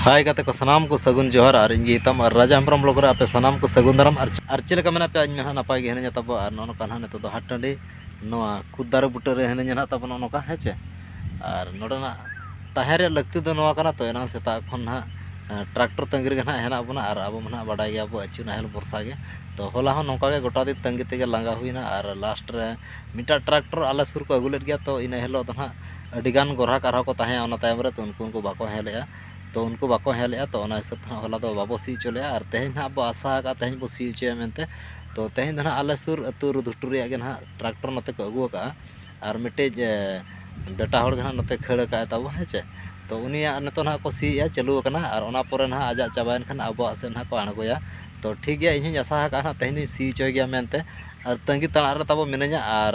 ᱦᱟᱭ ᱜᱟᱛᱮ ᱠᱚ ᱥᱟᱱᱟᱢ ᱠᱚ ᱥᱟᱹᱜᱩᱱ ᱡᱚᱦᱟᱨ ᱟᱨ ᱤᱧ ᱜᱮ ᱤᱛᱟᱢ ᱟᱨ ᱨᱟᱡᱟ ᱦᱮᱢᱵᱨᱚᱢ ᱵᱞᱚᱜ ᱨᱮ ᱟᱯᱮ ᱥᱟᱱᱟᱢ ᱠᱚ ᱥᱟᱹᱜᱩᱱ ᱫᱟᱨᱟᱢ ᱟᱨ ᱟᱨ ᱪᱮᱫ ᱞᱮᱠᱟ ᱢᱮᱱᱟᱜ ᱯᱮᱭᱟ ᱤᱧ ᱱᱟᱦᱟᱜ ᱱᱟᱯᱟᱭ ᱜᱮ ᱦᱤᱱᱟᱹᱧᱟ ᱛᱟᱵᱚ ᱟᱨ ᱱᱚᱜᱼᱚ ᱱᱚᱝᱠᱟ ᱱᱟᱦᱟᱜ ᱱᱤᱛᱚᱜ ᱫᱚ ᱦᱟᱴ ᱴᱟᱺᱰᱤ ᱱᱚᱣᱟ ᱠᱩᱫ ᱫᱟᱨᱮ ᱵᱩᱴᱟᱹ ᱨᱮ ᱦᱤᱱᱟᱹᱧᱟ ᱱᱟᱦᱟᱜ ᱛᱟᱵᱚ ᱱᱚᱜᱼᱚ ᱱᱚᱝᱠᱟ ᱦᱮᱸ ᱪᱮ ᱟᱨ ᱱᱚᱰᱮᱱᱟᱜ ᱛᱟᱦᱮᱸ ᱨᱮᱭᱟᱜ ᱞᱟᱹᱠᱛᱤ ᱫᱚ ᱱᱚᱣᱟ ᱠᱟᱱᱟ ᱛᱚ ᱮᱱᱟᱝ ᱥᱮᱛᱟᱜ ᱠᱷᱚᱱ ᱱᱟᱦᱟᱜ ᱴᱨᱟᱠᱴᱚᱨ ᱛᱟᱺᱜᱤ ᱨᱮᱜᱮ ᱱᱟᱦᱟᱜ ᱦᱮᱱᱟᱜ ᱵᱚᱱᱟ ᱟᱨ ᱟᱵᱚ ᱢᱟ ᱱᱟᱦᱟᱜ ᱵᱟᱰᱟᱭ ᱜᱮᱭᱟ ᱵᱚ ᱟᱹᱪᱩ ᱱᱟᱦᱮᱞ ᱵᱷᱚᱨᱥᱟ ᱜᱮ ᱛᱚ ᱦᱚᱞᱟ ᱦᱚᱸ ᱱᱚᱝᱠᱟ ᱜᱮ ᱜᱚᱴᱟ ᱫᱤᱱ ᱛᱟᱺᱜᱤ ᱛᱮᱜᱮ ᱞᱟᱸᱜᱟ ᱦᱩᱭᱱᱟ ᱟᱨ ᱞᱟᱥᱴ ᱨᱮ ᱢᱤᱫᱴᱟᱝ ᱴᱨᱟᱠᱴᱚᱨ ᱟᱞᱮ ᱥᱩᱨ ᱠᱚ ᱟᱹᱜᱩ ᱞᱮᱫ ᱜᱮᱭᱟ ᱛᱚ ᱤᱱᱟᱹ ᱦᱤᱞᱳᱜ ᱫᱚ ᱱᱟᱦᱟᱜ ᱟᱹᱰᱤ ᱜᱟᱱ ᱜᱚᱨᱦᱟᱠ ᱟᱨᱦᱚᱸ ᱠᱚ ᱛᱟᱦᱮᱸᱭᱟ ᱚᱱᱟ ᱛᱟᱭᱚᱢ ᱨᱮ ᱛᱚ ᱩᱱᱠᱩ ᱦᱚᱸᱠᱚ ᱵᱟᱠᱚ ᱦᱮᱡ ᱞᱮᱜᱼᱟ ᱛᱚ ᱩᱱᱠᱩ ᱵᱟᱠᱚ ᱦᱮᱡ ᱞᱮᱜᱼᱟ ᱛᱚ ᱚᱱᱟ ᱦᱤᱥᱟᱹᱵ ᱛᱮ ᱦᱟᱸᱜ ᱦᱚᱞᱟ ᱫᱚ ᱵᱟᱵᱚ ᱥᱤ ᱦᱚᱪᱚ ᱞᱮᱜᱼᱟ ᱟᱨ ᱛᱮᱦᱮᱧ ᱦᱟᱸᱜ ᱵᱚ ᱟᱥᱟ ᱟᱠᱟᱫᱼᱟ ᱛᱮᱦᱮᱧ ᱵᱚ ᱥᱤ ᱦᱚᱪᱚᱭᱟ ᱢᱮᱱᱛᱮ ᱛᱚ ᱛᱮᱦᱮᱧ ᱫᱚ ᱦᱟᱸᱜ ᱟᱞᱮ ᱥᱩᱨ ᱟᱛᱳ ᱨᱮ ᱜᱷᱩᱴᱩ ᱨᱮᱭᱟᱜ ᱜᱮ ᱦᱟᱸᱜ ᱴᱨᱟᱠᱴᱚᱨ ᱱᱚᱛᱮ ᱠᱚ ᱟᱹᱜᱩ ᱟᱠᱟᱫᱼᱟ ᱟᱨ ᱢᱤᱫᱴᱤᱡ ᱵᱮᱴᱟ ᱦᱚᱲ ᱜᱮ ᱦᱟᱸᱜ ᱱᱚᱛᱮ ᱠᱷᱟᱹᱲ ᱟᱠᱟᱫᱼᱟᱭ ᱛᱟᱵᱚ ᱦᱮᱸ ᱪᱮ ᱛᱚ ᱩᱱᱤᱭᱟᱜ ᱱᱤᱛᱚᱜ ᱦᱟᱸᱜ ᱠᱚ ᱥᱤᱭᱮᱜᱼᱟ ᱪᱟᱹᱞᱩ ᱟᱠᱟᱱᱟ ᱟᱨ ᱚᱱᱟ ᱯᱚᱨᱮ ᱦᱟᱸᱜ ᱟᱡᱟᱜ ᱪᱟᱵᱟᱭᱮᱱ ᱠᱷᱟᱱ ᱟᱵᱚᱣᱟᱜ ᱥᱮᱫ ᱦᱟᱸᱜ ᱠᱚ ᱟᱬᱜᱚᱭᱟ ᱛᱚ ᱴᱷᱤᱠ ᱜᱮᱭᱟ ᱤᱧ ᱦᱚᱸᱧ ᱟᱥᱟ ᱟᱠᱟᱫᱼᱟ ᱛᱮᱦᱮᱧ ᱫᱚᱧ ᱥᱤ ᱦᱚᱪᱚᱭ ᱜᱮᱭᱟ ᱢᱮᱱᱛᱮ ᱟᱨ ᱛᱟᱹᱜᱤ ᱛᱟᱲᱟᱜ ᱨᱮ ᱛᱟᱵᱚ ᱢᱤᱱᱟᱹᱧᱟ ᱟᱨ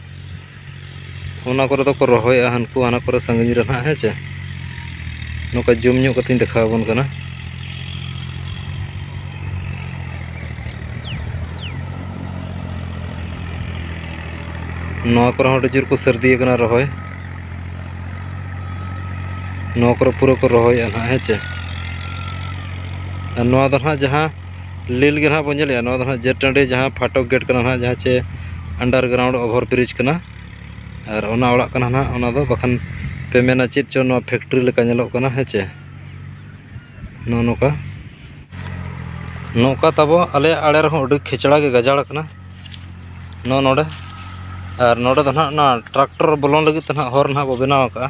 ᱚᱱᱟ ᱠᱚᱨᱮ ᱫᱚᱠᱚ ᱨᱚᱦᱚᱭᱟ ᱦᱟᱱᱠᱩ ᱦᱟᱱᱟ ᱠᱚᱨᱮ ᱥᱟᱺᱜᱤᱧ ᱨᱮ ᱱᱟᱦᱟᱜ ᱦᱮᱸ ᱪᱮ ᱱᱚᱝᱠᱟ ᱡᱩᱢ ᱧᱚᱜ ᱠᱟᱛᱮᱧ ᱫᱮᱠᱷᱟᱣ ᱟᱵᱚᱱ ᱠᱟᱱᱟ ᱱᱚᱣᱟ ᱠᱚᱨᱮ ᱦᱚᱸ ᱟᱹᱰᱤ ᱡᱳᱨ ᱠᱚ ᱥᱟᱹᱨᱫᱤ ᱟᱠᱟᱱᱟ ᱨᱚᱦᱚᱭ ᱱᱚᱣᱟ ᱠᱚᱨᱮ ᱯᱩᱨᱟᱹ ᱠᱚ ᱨᱚᱦᱚᱭᱮᱫᱼᱟ ᱱᱟᱦᱟᱜ ᱦᱮᱸ ᱪᱮ ᱟᱨ ᱱᱚᱣᱟ ᱫᱚ ᱱᱟᱦᱟᱜ ᱡᱟᱦᱟᱸ ᱞᱤᱞ ᱜᱮ ᱱᱟᱦᱟᱜ ᱵᱚᱱ ᱧᱮᱞᱮᱜᱼᱟ ᱱᱚᱣᱟ ᱫᱚ ᱱᱟᱦᱟᱜ ᱡᱮᱴ ᱴᱟᱺᱰᱤ ᱡᱟᱦᱟᱸ ᱯᱷᱟᱴᱚᱠ ᱜᱮᱴ ᱠᱟᱱᱟ ᱱᱟᱦᱟᱜ ᱡᱟᱦᱟᱸ ᱪᱮ ᱟᱱᱰᱟᱨ ᱜᱨᱟᱣᱩᱱᱰ ᱚᱵᱷᱟᱨ ᱵᱨᱤᱡᱽ ᱠᱟᱱᱟ ᱟᱨ ᱚᱱᱟ ᱚᱲᱟᱜ ᱠᱟᱱᱟ ᱱᱟᱦᱟᱜ ᱚᱱᱟ ᱫᱚ ᱵᱟᱠᱷᱟᱱ ᱯᱮ ᱢᱮᱱᱟ ᱪᱮᱫ ᱪᱚᱝ ᱱᱚᱣᱟ ᱯᱷᱮᱠᱴᱨᱤ ᱞᱮᱠᱟ ᱧᱮᱞᱚᱜ ᱠᱟᱱᱟ ᱦᱮᱸ ᱪᱮ ᱱᱚᱜᱼᱚ ᱱᱚᱝᱠᱟ ᱱᱚᱝᱠᱟ ᱛᱟᱵᱚ ᱟᱞᱮᱭᱟᱜ ᱟᱲᱮ ᱨᱮᱦᱚᱸ ᱟᱹᱰᱤ ᱠᱷᱮᱪᱲᱟ ᱜᱮ ᱜᱟᱡᱟᱲ ᱠᱟᱱᱟ ᱱᱚᱜᱼᱚ ᱱᱚᱰᱮ ᱟᱨ ᱱᱚᱰᱮ ᱫᱚ ᱱᱟᱦᱟᱜ ᱚᱱᱟ ᱴᱨᱟᱠᱴᱚᱨ ᱵᱚᱞᱚᱱ ᱞᱟᱹᱜᱤᱫ ᱛᱮ ᱱᱟᱦᱟᱜ ᱦᱚᱨ ᱱᱟᱦᱟᱜ ᱵᱚᱱ ᱵᱮᱱᱟᱣ ᱠᱟᱜᱼᱟ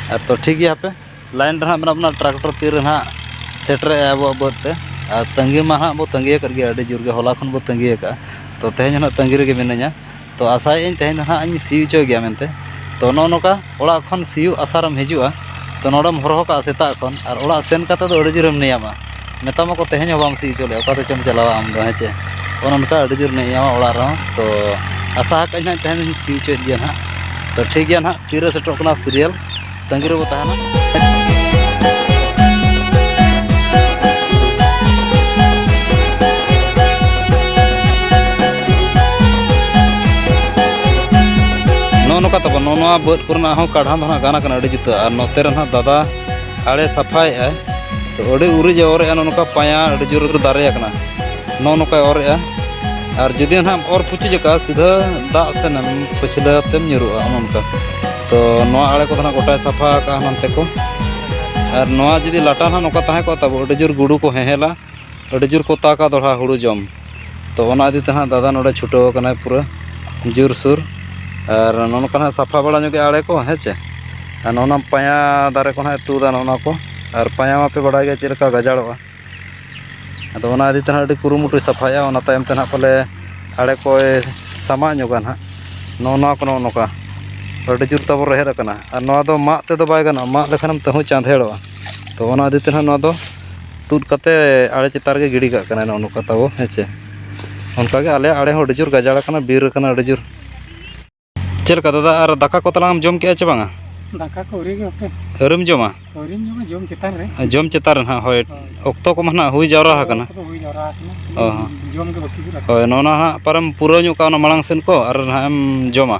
ᱟᱨ ᱛᱚ ᱴᱷᱤᱠ ᱜᱮᱭᱟ ᱦᱟᱯᱮ ᱞᱟᱭᱤᱱ ᱨᱮ ᱦᱟᱸᱜ ᱢᱮᱱᱟᱜ ᱵᱚᱱᱟ ᱴᱨᱟᱠᱴᱚᱨ ᱛᱤᱨᱮ ᱦᱟᱸᱜ ᱥᱮᱴᱮᱨᱚᱜᱼᱟᱭ ᱟᱵᱚᱣᱟᱜ ᱵᱟᱹᱫᱽ ᱛᱮ ᱟᱨ ᱛᱟᱺᱜᱤ ᱢᱟ ᱦᱟᱸᱜ ᱵᱚᱱ ᱛᱟᱺᱜᱤ ᱟᱠᱟᱫ ᱜᱮᱭᱟ ᱟᱹᱰᱤ ᱡᱳᱨ ᱜᱮ ᱦᱚᱞᱟ ᱠᱷᱚᱱ ᱵᱚᱱ ᱛᱟᱺᱜᱤ ᱟᱠᱟᱫᱼᱟ ᱛᱚ ᱛᱮᱦᱮᱧ ᱦᱚᱸ ᱦᱟᱸᱜ ᱛᱟᱺᱜᱤ ᱨᱮᱜᱮ ᱢᱤᱱᱟᱹᱧᱟ ᱛᱚ ᱟᱥᱟᱭᱮᱫ ᱟᱹᱧ ᱛᱮᱦᱮᱧ ᱫᱚ ᱦᱟᱸᱜ ᱤᱧ ᱥᱤ ᱦᱚᱪᱚᱭ ᱜᱮᱭᱟ ᱢᱮᱱᱛᱮ ᱛᱚ ᱱᱚᱜᱼᱚ ᱱᱚᱝᱠᱟ ᱚᱲᱟᱜ ᱠᱷᱚᱱ ᱥᱤᱭᱳᱜ ᱟᱥᱟᱨᱮᱢ ᱦᱤᱡᱩᱜᱼᱟ ᱛᱚ ᱱᱚᱰᱮᱢ ᱦᱚᱨᱦᱚ ᱠᱟᱜᱼᱟ ᱥᱮᱛᱟᱜ ᱠᱷᱚᱱ ᱟᱨ ᱚᱲᱟᱜ ᱥᱮᱱ ᱠᱟᱛᱮᱫ ᱫᱚ ᱟᱹᱰᱤ ᱡᱳᱨᱮᱢ ᱱᱮᱭᱟᱢᱟ ᱢᱮᱛᱟᱢᱟ ᱠᱚ ᱛᱮᱦᱮᱧ ᱦᱚᱸ ᱵᱟᱢ ᱥᱤ ᱦᱚᱪᱚ ᱞᱮᱫᱼᱟ ᱚᱠᱟ ᱛᱮᱪᱚᱢ ᱪᱟᱞᱟᱣᱟ ᱟᱢ ᱫᱚ ᱦᱮᱸ ᱪᱮ ᱚᱱᱮ ᱚᱱᱠᱟ ᱟᱹᱰᱤ ᱡᱳᱨ ᱱᱮᱭᱟᱣᱟ ᱚᱲᱟᱜ ᱨᱮᱦᱚᱸ ᱛᱚ ᱟᱥᱟ ᱟᱠᱟᱫ ᱟᱹᱧ ᱦᱟᱸᱜ ᱛᱮᱦᱮᱧ ᱫᱚᱧ ᱥᱤ ᱦᱚᱪᱚᱭᱮᱫ ᱜᱮᱭᱟ ᱦᱟᱸᱜ ᱛᱚ ᱴᱷᱤᱠ ᱜᱮᱭᱟ ᱦᱟᱸᱜ ᱛᱤᱨᱮ ᱥᱮᱴᱮᱨᱚᱜ ᱠᱟᱱᱟ ᱥᱤᱨᱤᱭᱟᱞ ᱛᱟᱺᱜᱤ ᱨᱮᱵᱚ ᱛᱟᱦᱮᱱᱟ ᱱᱚᱜᱼᱚ ᱱᱚᱝᱠᱟ ᱛᱟᱵᱚᱱ ᱱᱚᱣᱟ ᱵᱟᱹᱫᱽ ᱠᱚᱨᱮᱱᱟᱜ ᱦᱚᱸ ᱠᱟᱬᱦᱟᱱ ᱫᱚ ᱦᱟᱸᱜ ᱜᱟᱱ ᱟᱠᱟᱱᱟ ᱟᱹᱰᱤ ᱡᱩᱛᱟᱹ ᱟᱨ ᱱᱚᱛᱮ ᱨᱮ ᱦᱟᱸᱜ ᱫᱟᱫᱟ ᱟᱲᱮ ᱥᱟᱯᱷᱟᱭᱮᱫᱼᱟ ᱛᱚ ᱟᱹᱰᱤ ᱩᱨᱤᱡ ᱮ ᱚᱨᱮᱜᱼᱟ ᱱᱚᱜᱼᱚ ᱱᱚᱝᱠᱟ ᱯᱟᱭᱟ ᱟᱹᱰᱤ ᱡᱳᱨ ᱫᱟᱨᱮ ᱟᱠᱟᱱᱟ ᱱᱚᱜᱼᱚ ᱱᱚᱝᱠᱟᱭ ᱚᱨᱮᱜᱼᱟ ᱟᱨ ᱡᱩᱫᱤ ᱱᱟᱦᱟᱜ ᱮᱢ ᱚᱨ ᱯᱩᱪᱩᱡ ᱟᱠᱟᱫᱼᱟ ᱥᱤᱫᱷᱟᱹ ᱫᱟᱜ ᱥᱮᱱᱮᱢ ᱯᱟᱹᱪᱷᱞᱟᱹ ᱛᱮᱢ ᱧᱩᱨᱩᱜᱼᱟ ᱚᱱᱮ ᱚᱱᱠᱟ ᱛᱚ ᱱᱚᱣᱟ ᱟᱲᱮ ᱠᱚᱫᱚ ᱱᱟᱦᱟᱜ ᱜᱚᱴᱟᱭ ᱥᱟᱯᱷᱟ ᱟᱠᱟᱫᱼᱟ ᱱᱚᱱᱛᱮ ᱠᱚ ᱟᱨ ᱱᱚᱣᱟ ᱡᱩᱫᱤ ᱞᱟᱴᱟ ᱱᱟᱦᱟᱜ ᱱᱚᱝᱠᱟ ᱛᱟᱦᱮᱸ ᱠᱚᱜᱼᱟ ᱛᱟᱵᱚ ᱟᱹᱰᱤ ᱡᱳᱨ ᱜᱩᱰᱩ ᱠᱚ ᱦᱮᱦᱮᱞᱟ ᱟᱹᱰᱤ ᱡᱳᱨ ᱠᱚ ᱛᱟᱠᱟ ᱫᱚᱦᱲᱟ ᱦᱩᱲᱩ ᱡᱚᱢ ᱛᱚ ᱚᱱᱟ ᱤᱫᱤ ᱛᱮ ᱦᱟᱸᱜ ᱫᱟᱫᱟ ᱱᱚᱰᱮ ᱪᱷᱩᱴᱟᱹᱣ ᱟᱠᱟᱱᱟᱭ ᱯᱩᱨᱟᱹ ᱡᱳᱨᱥᱳᱨ ᱟᱨ ᱱᱚᱜᱼᱚ ᱱᱚᱝᱠᱟ ᱦᱟᱸᱜ ᱥᱟᱯᱷᱟ ᱵᱟᱲᱟ ᱧᱚᱜ ᱮᱫᱟᱭ ᱟᱲᱮ ᱠᱚ ᱦᱮᱸ ᱪᱮ ᱟᱨ ᱱᱚᱜᱼᱚ ᱱᱟ ᱯᱟᱭᱟ ᱫᱟᱨᱮ ᱠᱚ ᱦᱟᱸᱜ ᱛᱩᱫᱟ ᱱᱚᱜᱼᱚ ᱱᱟ ᱠᱚ ᱟᱨ ᱯᱟᱭᱟ ᱢᱟᱯᱮ ᱵᱟᱲᱟᱭ ᱜᱮᱭᱟ ᱪᱮᱫ ᱞᱮᱠᱟ ᱜᱟᱡᱟᱲᱚᱜᱼᱟ ᱟᱫᱚ ᱚᱱᱟ ᱤᱫᱤ ᱛᱮ ᱦᱟᱸᱜ ᱟᱹᱰᱤ ᱠᱩᱨᱩᱢᱩᱴᱩᱭ ᱥᱟᱯᱷᱟᱭᱟ ᱚᱱᱟ ᱛᱟᱭᱚᱢ ᱛᱮ ᱦᱟᱸᱜ ᱯᱟᱞᱮ ᱟᱲᱮ ᱠᱚᱭ ᱥᱟᱢᱟᱜ ᱧᱚᱜᱟ ᱦᱟᱸᱜ ᱱᱚᱜᱼᱚ ᱱᱟ ᱠᱚ ᱱᱚᱜᱼᱚ ᱱᱚᱝᱠᱟ ᱟᱹᱰᱤ ᱡᱳᱨ ᱛᱟᱵᱚ ᱨᱮᱦᱮᱫ ᱟᱠᱟᱱᱟ ᱟᱨ ᱱᱚᱣᱟ ᱫᱚ ᱢᱟᱜ ᱛᱮᱫᱚ ᱵᱟᱭ ᱜᱟᱱᱚᱜᱼᱟ ᱢᱟᱜ ᱞᱮᱠᱷᱟᱱ ᱛᱟᱹᱦᱩ ᱪᱟᱸᱫᱮᱲᱚᱜᱼᱟ ᱛᱚ ᱚᱱᱟ ᱤᱫᱤ ᱛᱮᱦᱟᱸᱜ ᱱᱚᱣᱟ ᱫᱚ ᱛᱩᱫ ᱠᱟᱛᱮ ᱟᱲᱮ ᱪᱮᱛᱟᱱ ᱨᱮᱜᱮ ᱜᱤᱰᱤ ᱠᱟᱜ ᱠᱟᱱᱟᱭ ᱱᱚᱜᱼᱚ ᱱᱚᱝᱠᱟ ᱛᱟᱵᱚ ᱦᱮᱸ ᱪᱮ ᱚᱱᱠᱟᱜᱮ ᱟᱞᱮᱭᱟᱜ ᱟᱲᱮ ᱦᱚᱸ ᱟᱹᱰᱤ ᱡᱳᱨ ᱜᱟᱡᱟᱲ ᱠᱟᱱᱟ ᱵᱤᱨ ᱠᱟᱱᱟ ᱟᱹᱰᱤ ᱡᱳᱨ ᱪᱮᱫ ᱞᱮᱠᱟ ᱫᱟᱫᱟ ᱟᱨ ᱫᱟᱠᱟ ᱠᱚ ᱛᱟᱞᱟᱝ ᱮᱢ ᱡᱚᱢ ᱠᱮᱜᱼᱟ ᱪᱮ ᱵᱟᱝᱟ ᱫᱟᱠᱟ ᱠᱚ ᱟᱹᱣᱨᱤ ᱜᱮ ᱦᱟᱯᱮ ᱟᱹᱣᱨᱤᱢ ᱡᱚᱢᱟ ᱟᱹᱣᱨᱤᱧ ᱡᱚᱢᱟ ᱡᱚᱢ ᱪᱮᱛᱟᱱ ᱨᱮ ᱡᱚᱢ ᱪᱮᱛᱟᱱ ᱨᱮ ᱦᱟᱸᱜ ᱦᱳᱭ ᱚᱠᱛᱚ ᱠᱚᱢᱟ ᱦᱟᱸᱜ ᱦᱩᱭ ᱡᱟᱣᱨᱟ ᱟᱠᱟᱱᱟ ᱚᱠᱛᱚ ᱫᱚ ᱦᱩᱭ ᱡᱟᱣᱨᱟ ᱟᱠᱟᱱᱟ ᱚ ᱦᱚᱸ ᱡᱚᱢ ᱜᱮ ᱵᱟᱹᱠᱤ ᱢᱮᱱᱟᱜᱼᱟ ᱦᱳᱭ ᱱᱚᱜᱼᱚ ᱱᱟ ᱦᱟᱸᱜ ᱚᱠᱟᱨᱮᱢ ᱯᱩᱨᱟᱹᱣ ᱧᱚᱜ ᱠᱟᱜᱼᱟ ᱚᱱᱟ ᱢᱟᱲᱟᱝ ᱥᱮᱫ ᱠᱚ ᱟᱨ ᱦᱟᱸᱜ ᱮᱢ ᱡᱚᱢᱟ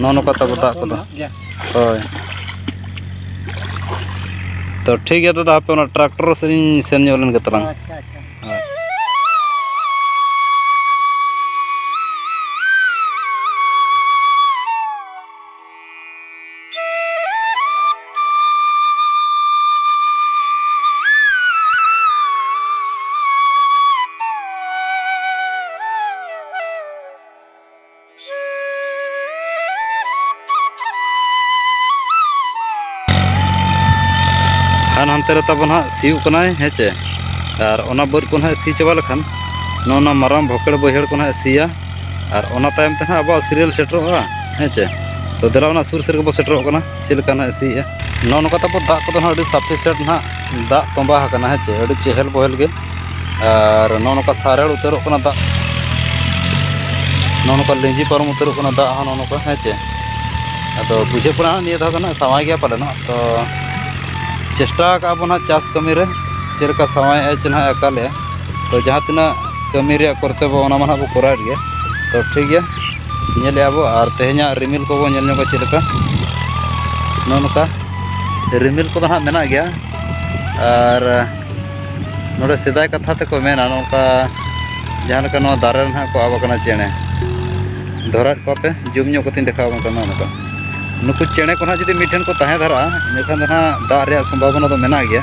ᱱᱚᱜᱼᱚ ᱱᱚᱝᱠᱟ ᱛᱟᱵᱚ ᱫᱟᱜ ᱠᱚᱫᱚ ᱦᱳᱭ ᱛᱚ ᱴᱷᱤᱠ ᱜᱮᱭᱟ ᱫᱟᱫᱟ ᱦᱟᱯᱮ ᱚᱱᱟ ᱴᱨᱟᱠᱴᱚᱨ ᱥᱮᱫ ᱤᱧ ᱥᱮᱱ ᱧᱚᱜ ᱞᱮᱱ ᱜᱮ ᱛᱟᱞᱟᱝ ᱟᱪᱪᱷᱟ ᱟᱪᱪᱷᱟ ᱠᱷᱟᱱ ᱦᱟᱱᱛᱮ ᱨᱮ ᱛᱟᱵᱚᱱ ᱦᱟᱸᱜ ᱥᱤᱭᱳᱜ ᱠᱟᱱᱟᱭ ᱦᱮᱸ ᱪᱮ ᱟᱨ ᱚᱱᱟ ᱵᱟᱹᱫᱽ ᱠᱚ ᱱᱟᱦᱟᱜ ᱥᱤ ᱪᱟᱵᱟ ᱞᱮᱠᱷᱟᱱ ᱱᱚᱜᱼᱚ ᱱᱚᱣᱟ ᱢᱟᱨᱟᱝ ᱵᱷᱚᱠᱮᱲ ᱵᱟᱹᱭᱦᱟᱹᱲ ᱠᱚ ᱱᱟᱦᱟᱜ ᱥᱤᱭᱟ ᱟᱨ ᱚᱱᱟ ᱛᱟᱭᱚᱢ ᱛᱮ ᱱᱟᱦᱟᱜ ᱟᱵᱚᱣᱟᱜ ᱥᱤᱨᱤᱭᱟᱞ ᱥᱮᱴᱮᱨᱚᱜᱼᱟ ᱦᱮᱸ ᱪᱮ ᱛᱚ ᱫᱮᱞᱟ ᱚᱱᱟ ᱥᱩᱨ ᱥᱮᱫ ᱜᱮᱵᱚ ᱥᱮᱴᱮᱨᱚᱜ ᱠᱟᱱᱟ ᱪᱮᱫ ᱞᱮᱠᱟ ᱱᱟᱦᱟᱜ ᱥᱤᱭᱮᱜᱼᱟ ᱱᱚᱜᱼᱚ ᱱᱚᱝᱠᱟ ᱛᱟᱵᱚ ᱫᱟᱜ ᱠᱚᱫᱚ ᱱᱟᱦᱟᱜ ᱟᱹᱰᱤ ᱥᱟᱯᱷᱤᱥᱮᱱᱴ ᱱᱟᱦᱟᱜ ᱫᱟᱜ ᱛᱚᱸᱵᱟ ᱟᱠᱟᱱᱟ ᱦᱮᱸ ᱪᱮ ᱟᱹᱰᱤ ᱪᱮᱦᱮᱞ ᱵᱚᱦᱮᱞ ᱜᱮ ᱟᱨ ᱱᱚᱜᱼᱚ ᱱᱚᱝᱠᱟ ᱥᱟᱨᱮᱲ ᱩᱛᱟᱹᱨᱚᱜ ᱠᱟᱱᱟ ᱫᱟᱜ ᱱᱚᱜᱼᱚ ᱱᱚᱝᱠᱟ ᱞᱤᱸᱡᱤ ᱯᱟᱨᱚᱢ ᱩᱛᱟᱹᱨᱚᱜ ᱠᱟᱱᱟ ᱫᱟᱜ ᱦᱚᱸ ᱱᱚᱜᱼᱚ ᱱᱚᱝᱠᱟ ᱦᱮᱸ ᱪᱮ ᱟᱫᱚ ᱵᱩᱡᱷᱟᱹᱜ ᱠᱟᱱᱟ ᱱᱤᱭᱟᱹ ᱫᱷᱟᱣ ᱫᱚ ᱱᱟᱦᱟᱜ ᱥᱟᱶᱟᱭ ᱜᱮᱭᱟ ᱯᱟᱞᱮᱱ ᱦᱟᱸᱜ ᱛᱚ ᱪᱮᱥᱴᱟ ᱠᱟᱜᱼᱟ ᱵᱚᱱ ᱦᱟᱸᱜ ᱪᱟᱥ ᱠᱟᱹᱢᱤ ᱨᱮ ᱪᱮᱫ ᱞᱮᱠᱟ ᱥᱟᱶᱟᱭᱮᱜᱼᱟ ᱪᱮ ᱱᱟᱦᱟᱜ ᱟᱠᱟᱞᱮᱜᱼᱟ ᱛᱚ ᱡᱟᱦᱟᱸ ᱛᱤᱱᱟᱹᱜ ᱠᱟᱹᱢᱤ ᱨᱮᱭᱟᱜ ᱠᱚᱨᱛᱚᱵᱽᱵᱚ ᱚᱱᱟ ᱢᱟ ᱱᱟᱦᱟᱜ ᱵᱚᱱ ᱠᱚᱨᱟᱣᱮᱫ ᱜᱮᱭᱟ ᱛᱚ ᱴᱷᱤᱠ ᱜᱮᱭᱟ ᱧᱮᱞᱮᱜᱼᱟ ᱵᱚᱱ ᱟᱨ ᱛᱮᱦᱮᱧᱟᱜ ᱨᱤᱢᱤᱞ ᱠᱚᱵᱚᱱ ᱧᱮᱞ ᱧᱚᱜᱟ ᱪᱮᱫ ᱞᱮᱠᱟ ᱱᱚᱜᱼᱚ ᱱᱚᱝᱠᱟ ᱨᱤᱢᱤᱞ ᱠᱚᱫᱚ ᱱᱟᱦᱟᱜ ᱢᱮᱱᱟᱜ ᱜᱮᱭᱟ ᱟᱨ ᱱᱚᱰᱮ ᱥᱮᱫᱟᱭ ᱠᱟᱛᱷᱟ ᱛᱮᱠᱚ ᱢᱮᱱᱟ ᱱᱚᱝᱠᱟ ᱡᱟᱦᱟᱸ ᱞᱮᱠᱟ ᱱᱚᱣᱟ ᱫᱟᱨᱮ ᱨᱮ ᱱᱟᱦᱟᱜ ᱠᱚ ᱟᱵ ᱟᱠᱟᱱᱟ ᱪᱮᱬᱮ ᱫᱷᱚᱨᱟᱣᱮᱫ ᱠᱚᱣᱟ ᱯᱮ ᱡᱩᱢ ᱧᱚᱜ ᱠᱟᱛᱮᱧ ᱫᱮᱠᱷᱟᱣ ᱟᱵᱚᱱ ᱠᱟᱱᱟ ᱱᱚᱝᱠᱟ ᱱᱩᱠᱩ ᱪᱮᱬᱮ ᱠᱚ ᱱᱟᱦᱟᱜ ᱡᱩᱫᱤ ᱢᱤᱫ ᱴᱷᱮᱱ ᱠᱚ ᱛᱟᱦᱮᱸ ᱫᱷᱟᱨᱟᱜᱼᱟ ᱤᱱᱟᱹᱠᱷᱟᱱ ᱫᱚ ᱱᱟᱦᱟᱜ ᱫᱟᱜ ᱨᱮᱭᱟᱜ ᱥᱚᱢᱵᱷᱟᱵᱚᱱᱟ ᱫᱚ ᱢᱮᱱᱟᱜ ᱜᱮᱭᱟ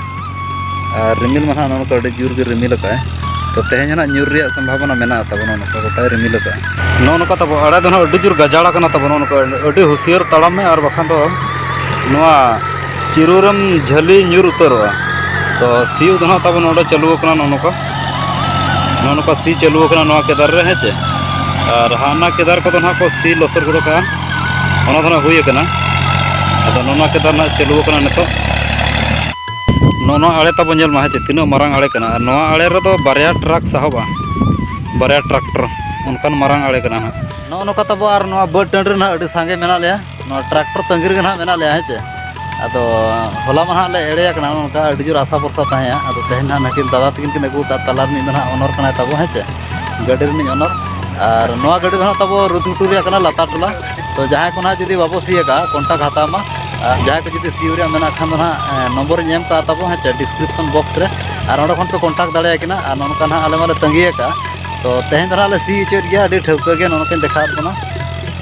ᱟᱨ ᱨᱤᱢᱤᱞ ᱢᱟ ᱱᱟᱦᱟᱜ ᱱᱚᱝᱠᱟ ᱟᱹᱰᱤ ᱡᱳᱨ ᱜᱮ ᱨᱤᱢᱤᱞ ᱟᱠᱟᱫᱼᱟᱭ ᱛᱚ ᱛᱮᱦᱮᱧ ᱱᱟᱦᱟᱜ ᱧᱩᱨ ᱨᱮᱭᱟᱜ ᱥᱚᱢᱵᱷᱟᱵᱚᱱᱟ ᱢᱮᱱᱟᱜ ᱛᱟᱵᱚᱱᱟ ᱱᱚᱝᱠᱟ ᱜᱚᱴᱟᱭ ᱨᱤᱢᱤᱞ ᱟᱠᱟᱫᱼᱟ ᱱᱚᱜᱼᱚ ᱱᱚᱝᱠᱟ ᱛᱟᱵᱚ ᱟᱲᱮ ᱫᱚ ᱱᱟᱦᱟᱜ ᱟᱹᱰᱤ ᱡᱳᱨ ᱜᱟᱡᱟᱲ ᱟᱠᱟᱱᱟ ᱛᱟᱵᱚᱱ ᱱᱚᱜᱼᱚ ᱱᱚᱝᱠᱟ ᱟᱹᱰᱤ ᱦᱩᱥᱭᱟᱹᱨ ᱛᱟᱲᱟᱢ ᱢᱮ ᱟᱨ ᱵᱟᱠᱷᱟᱱ ᱫᱚ ᱱᱚᱣᱟ ᱪᱤᱨᱩ ᱨᱮᱢ ᱡᱷᱟᱹᱞᱤ ᱧᱩᱨ ᱩᱛᱟᱹᱨᱚᱜᱼᱟ ᱛᱚ ᱥᱤᱭᱩ ᱫᱚ ᱦᱟᱸᱜ ᱛᱟᱵᱚᱱ ᱱᱚᱰᱮ ᱪᱟᱹᱞᱩ ᱟᱠᱟᱱᱟ ᱱᱚᱜᱼᱚ ᱱᱚᱝᱠᱟ ᱱᱚᱜᱼᱚ ᱱᱚᱝᱠᱟ ᱥᱤ ᱪᱟᱹᱞᱩ ᱟᱠᱟᱱᱟ ᱱᱚᱣᱟ ᱠᱮᱫᱟᱨ ᱨᱮ ᱦᱮᱸ ᱪᱮ ᱟᱨ ᱦᱟᱱᱟ ᱠᱮᱫᱟᱨ ᱠᱚᱫᱚ ᱦᱟᱸᱜ ᱠᱚ ᱥᱤ ᱞᱚᱥᱚᱫ ᱜᱚᱫ ᱠᱟᱜᱼᱟ ᱚᱱᱟ ᱫᱚ ᱦᱟᱸᱜ ᱦᱩᱭ ᱟᱠᱟᱱᱟ ᱟᱫᱚ ᱱᱚᱜᱼᱚ ᱱᱚᱣᱟ ᱠᱮᱫᱟᱨ ᱦᱟᱸᱜ ᱪᱟᱹᱞᱩ ᱟᱠᱟᱱᱟ ᱱᱤᱛᱚᱜ ᱱᱚᱜᱼᱚ ᱱᱚᱣᱟ ᱟᱲᱮ ᱛᱟᱵᱚᱱ ᱧᱮᱞ ᱢᱟ ᱦᱮᱸ ᱪᱮ ᱛᱤᱱᱟᱹᱜ ᱢᱟᱨᱟᱝ ᱟᱲᱮ ᱠᱟᱱᱟ ᱟᱨ ᱱᱚᱣᱟ ᱟᱲᱮ ᱨᱮᱫᱚ ᱵᱟᱨᱭᱟ ᱴᱨᱟᱠ ᱥᱟᱦᱚᱵᱼᱟ ᱵᱟᱨᱭᱟ ᱴᱨᱟᱠᱴᱚᱨ ᱚᱱᱠᱟᱱ ᱢᱟᱨᱟᱝ ᱟᱲᱮ ᱠᱟᱱᱟ ᱦᱟᱸᱜ ᱱᱚᱜᱼᱚ ᱱᱚᱝᱠᱟ ᱛᱟᱵᱚ ᱟᱨ ᱱᱚᱣᱟ ᱵᱟᱹᱫᱽ ᱴᱟᱺᱰᱤ ᱨᱮ ᱦᱟᱸᱜ ᱟᱹᱰᱤ ᱥᱟᱸᱜᱮ ᱢᱮᱱᱟᱜ ᱞᱮᱭᱟ ᱱᱚᱣᱟ ᱴᱨᱟᱠᱴᱚᱨ ᱛᱟᱺᱜᱤ ᱨᱮᱜᱮ ᱱᱟᱦᱟᱜ ᱢᱮᱱᱟᱜ ᱞᱮᱭᱟ ᱦᱮᱸ ᱪᱮ ᱟᱫᱚ ᱦᱚᱞᱟ ᱢᱟ ᱱᱟᱦᱟᱜ ᱞᱮ ᱮᱲᱮ ᱟᱠᱟᱱᱟ ᱚᱱᱠᱟ ᱟᱹᱰᱤ ᱡᱳᱨ ᱟᱥᱟ ᱵᱷᱚᱨᱥᱟ ᱛᱟᱦᱮᱸᱭᱟ ᱟᱫᱚ ᱛᱮᱦᱮᱧ ᱱᱟᱦᱟᱜ ᱱᱟᱹᱠᱤᱱ ᱫᱟᱫᱟ ᱛᱟᱹᱠᱤᱱ ᱠᱤᱱ ᱟᱹᱜᱩ ᱟᱠᱟᱫ ᱛᱟᱞᱟ ᱨᱤᱱᱤᱡ ᱫᱚ ᱱᱟᱦᱟᱜ ᱚᱱᱚᱨ ᱠᱟᱱᱟᱭ ᱛᱟᱵᱚ ᱦᱮᱸ ᱪᱮ ᱜᱟᱹᱰᱤ ᱨᱤᱱᱤᱡ ᱚᱱᱚᱨ ᱟᱨ ᱱᱚᱣᱟ ᱜᱟᱹᱰᱤ ᱫᱚ ᱱᱟᱦᱟᱜ ᱛᱟᱵᱚ ᱨᱩᱫᱽᱢᱩᱴᱩ ᱨᱮᱭᱟᱜ ᱠᱟᱱᱟ ᱞᱟᱛᱟᱨ ᱴᱚᱞᱟ ᱛᱚ ᱡᱟᱦᱟᱸᱭ ᱠᱚ ᱱᱟᱦᱟᱜ ᱡᱩᱫᱤ ᱵᱟᱵᱚ ᱥᱤ ᱟᱠᱟᱫᱼᱟ ᱠᱚᱱᱴᱟᱠᱴ ᱦᱟᱛᱟᱣ ᱢᱟ ᱟᱨ ᱡᱟᱦᱟᱸᱭ ᱠᱚ ᱡᱩᱫᱤ ᱥᱤᱭᱳ ᱨᱮᱭᱟᱜ ᱢᱮᱱᱟᱜ ᱠᱷᱟᱱ ᱫᱚ ᱱᱟᱦᱟᱜ ᱱᱚᱢᱵᱚᱨᱤᱧ ᱮᱢ ᱠᱟᱜᱼᱟ ᱛᱟᱵᱚ ᱦᱮᱸ ᱪᱮ ᱰᱤᱥᱠᱨᱤᱯᱥᱚᱱ ᱵᱚᱠᱥ ᱨᱮ ᱟᱨ ᱚᱸᱰᱮ ᱠᱷᱚᱱ ᱯᱮ ᱠᱚᱱᱴᱟᱠᱴ ᱫᱟᱲᱮᱭᱟᱠᱤᱱᱟ ᱟᱨ ᱱᱚᱝᱠᱟ ᱱᱟᱦᱟᱜ ᱟᱞᱮ ᱢᱟᱞᱮ ᱛᱟᱺᱜᱤ ᱟᱠᱟᱫᱼᱟ ᱛᱚ ᱛᱮᱦᱮᱧ ᱫᱚ ᱱᱟᱦᱟᱜ ᱞᱮ ᱥᱤ ᱦᱚᱪᱚᱭᱮᱫ ᱜᱮᱭᱟ ᱟᱹᱰᱤ ᱴᱷᱟᱹᱣᱠᱟᱹ ᱜᱮ ᱱᱚᱜᱼᱚ ᱱᱚᱝᱠᱟᱧ ᱫᱮᱠᱷᱟᱣᱟᱫ ᱵᱚᱱᱟ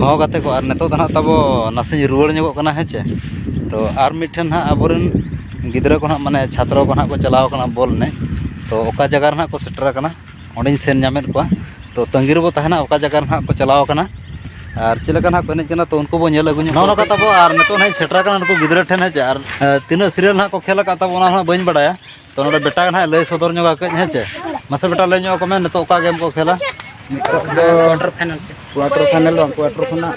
ᱦᱚᱸ ᱜᱟᱛᱮ ᱠᱚ ᱟᱨ ᱱᱤᱛᱚᱜ ᱫᱚ ᱦᱟᱸᱜ ᱛᱟᱵᱚ ᱱᱟᱥᱮᱧ ᱨᱩᱣᱟᱹᱲ ᱧᱚᱜᱚᱜ ᱠᱟᱱᱟ ᱦᱮᱸ ᱪᱮ ᱛᱚ ᱟᱨ ᱢᱤᱫᱴᱷᱮᱱ ᱦᱟᱸᱜ ᱟᱵᱚ ᱨᱮᱱ ᱜᱤᱫᱽᱨᱟᱹ ᱠᱚ ᱦᱟᱸᱜ ᱢᱟᱱᱮ ᱪᱷᱟᱛᱨᱚ ᱠᱚ ᱦᱟᱸᱜ ᱠᱚ ᱪᱟᱞᱟᱣ ᱠᱟᱱᱟ ᱵᱚᱞ ᱮᱱᱮᱡ ᱛᱚ ᱚᱠᱟ ᱡᱟᱭᱜᱟ ᱨᱮ ᱦᱟᱸᱜ ᱠᱚ ᱥᱮᱴᱮᱨ ᱠᱟᱱᱟ ᱚᱸᱰᱮᱧ ᱥᱮᱱ ᱧᱟᱢᱮᱫ ᱠᱚᱣᱟ ᱛᱚ ᱛᱟᱺᱜᱤ ᱨᱮᱵᱚ ᱛᱟᱦᱮᱱᱟ ᱚᱠᱟ ᱡᱟᱭᱜᱟ ᱨᱮ ᱦᱟᱸᱜ ᱠᱚ ᱪᱟᱞᱟᱣ ᱠᱟᱱᱟ ᱟᱨ ᱪᱮᱫ ᱞᱮᱠᱟ ᱦᱟᱸᱜ ᱠᱚ ᱮᱱᱮᱡ ᱠᱟᱱᱟ ᱛᱚ ᱩᱱᱠᱩ ᱵᱚᱱ ᱧᱮᱞ ᱟᱹᱜᱩ ᱧᱚᱜ ᱱᱚᱜᱼᱚ ᱱᱚᱝᱠᱟ ᱛᱟᱵᱚ ᱟᱨ ᱱᱤᱛᱚᱜ ᱦᱟᱸᱜ ᱤᱧ ᱥᱮᱴᱮᱨ ᱠᱟᱱᱟ ᱱᱩᱠᱩ ᱜᱤᱫᱽᱨᱟᱹ ᱴᱷᱮᱱ ᱦᱮᱸ ᱪᱮ ᱟᱨ ᱛᱤᱱᱟᱹᱜ ᱥᱤᱨᱭᱟᱞ ᱦᱟᱸᱜ ᱠᱚ ᱠᱷᱮᱞ ᱠᱟᱫ ᱛᱟᱵᱚᱱᱟ ᱚᱱᱟ ᱦᱚᱸ ᱵᱟᱹᱧ ᱵᱟᱲᱟᱭᱟ ᱛᱚ ᱱᱚᱰᱮ ᱵᱮᱴᱟ ᱜᱮ ᱱᱟᱦᱟᱜ ᱞᱟᱹᱭ ᱥᱚᱫᱚᱨ ᱧᱚᱜᱟ ᱠᱟᱹᱡ ᱦᱮᱸ ᱪᱮ ᱢᱟᱥᱮ ᱵᱮᱴᱟ ᱞᱟᱹᱭ ᱧᱚᱜ ᱟᱠᱚ ᱢᱮ ᱱᱤᱛᱚᱜ ᱚᱠᱟ ᱜᱮᱢ ᱠᱚ ᱠᱷᱮᱞᱟ ᱠᱚᱣᱟᱴᱟᱨ ᱯᱷᱟᱭᱱᱟᱞ ᱠᱚᱣᱟᱴᱟᱨ ᱯᱷᱟᱭᱱᱟᱞ ᱵᱟᱝ ᱠᱚᱣᱟᱴᱟᱨ ᱠᱷᱚᱱᱟᱜ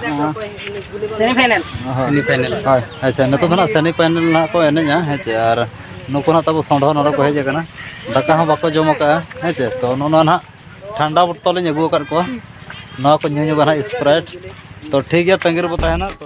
ᱥᱮᱢᱤ ᱯᱷᱟᱭᱱᱟᱞ ᱥᱮᱢᱤ ᱯᱷᱟᱭᱱᱟᱞ ᱦᱳᱭ ᱟᱪᱪᱷᱟ ᱱᱤᱛᱚᱜ ᱫᱚ ᱱᱟᱦᱟᱜ ᱥᱮᱢᱤ ᱯᱷᱟᱭᱱᱟᱞ ᱱᱟᱦᱟᱜ ᱠᱚ ᱮᱱᱮᱡᱟ ᱦᱮᱸ ᱪᱮ ᱟᱨ ᱱᱩᱠᱩ ᱱᱟᱦᱟᱜ ᱛᱟᱵᱚ ᱥᱚᱸᱰᱷᱚ ᱱᱚᱰᱮ ᱠᱚ ᱦᱮᱡ ᱟᱠᱟᱱᱟ ᱫᱟᱠᱟ ᱦᱚᱸ ᱵᱟᱠᱚ ᱡᱚᱢ ᱟᱠᱟᱫᱼᱟ ᱦᱮᱸ ᱪᱮ ᱛᱚ ᱱᱚᱣᱟ ᱱᱟᱦᱟᱜ ᱴᱷᱟᱱᱰᱟ ᱵᱚᱛᱚᱞ ᱤᱧ ᱟᱹᱜᱩ ᱟᱠᱟᱫ ᱠᱚᱣᱟ ᱱᱚᱣᱟ ᱠᱚ ᱧᱩ ᱧᱚᱜᱟ ᱱᱟᱦᱟᱜ ᱥᱯᱨᱟᱭᱤᱴ ᱛᱚ ᱴᱷᱤᱠ ᱜᱮᱭᱟ ᱛᱟᱺᱜᱤ ᱨᱮᱵᱚ ᱛᱟᱦᱮᱱᱟ ᱛᱚ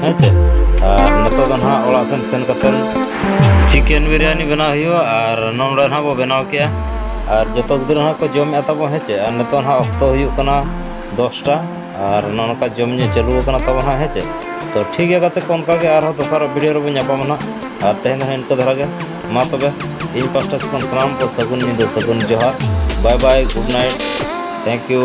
ᱦᱮᱸ ᱪᱮ ᱟᱨ ᱱᱤᱛᱚᱜ ᱫᱚ ᱱᱟᱦᱟᱜ ᱚᱲᱟᱜ ᱥᱮᱱ ᱥᱮᱱ ᱠᱟᱛᱮᱫ ᱪᱤᱠᱮᱱ ᱵᱤᱨᱭᱟᱱᱤ ᱵᱮᱱᱟᱣ ᱦᱩᱭᱩᱜᱼᱟ ᱟᱨ ᱱᱚᱰᱮ ᱱᱟᱦᱟᱜ ᱵᱚ ᱵᱮᱱᱟᱣ ᱠᱮᱜᱼᱟ ᱟᱨ ᱡᱚᱛᱚ ᱜᱤᱫᱽᱨᱟᱹ ᱱᱟᱦᱟᱜ ᱠᱚ ᱡᱚᱢᱮᱫ ᱛᱟᱵᱚ ᱦᱮᱸ ᱪᱮ ᱟᱨ ᱱᱤᱛᱚᱜ ᱱᱟᱦᱟᱜ ᱚᱠᱛᱚ ᱦᱩᱭᱩᱜ ᱠᱟᱱᱟ ᱫᱚᱥᱴᱟ ᱟᱨ ᱱᱚᱜᱼᱚ ᱱᱚᱝᱠᱟ ᱡᱚᱢ ᱧᱩ ᱪᱟᱹᱞᱩ ᱟᱠᱟᱱᱟ ᱛᱟᱵᱚ ᱱᱟᱦᱟᱜ ᱦᱮᱸ ᱪᱮ ᱛᱚ ᱴᱷᱤᱠ ᱜᱮᱭᱟ ᱜᱟᱛᱮ ᱠᱚ ᱚᱱᱠᱟ ᱜᱮ ᱟᱨᱦᱚᱸ ᱫᱚᱥᱟᱨᱟᱜ ᱵᱷᱤᱰᱤᱭᱳ ᱨᱮᱵᱚᱱ ᱧᱟᱯᱟᱢᱟ ᱱᱟᱦᱟᱜ ᱟᱨ ᱛᱮᱦᱮᱧ ᱫᱚ ᱱᱟᱦᱟᱜ ᱤᱱᱠᱟᱹ ᱫᱷᱟᱨᱟ ᱜᱮ ᱢᱟ ᱛᱚᱵᱮ ᱤᱧ ᱯᱟᱥᱴᱟ ᱥᱮᱫ ᱠᱷᱚᱱ ᱥᱟᱱᱟᱢ ᱠᱚ ᱥᱟᱹᱜᱩᱱ ᱧᱤᱫᱟᱹ ᱥᱟᱹᱜᱩᱱ ᱡᱚᱦᱟᱨ bye bye good night thank U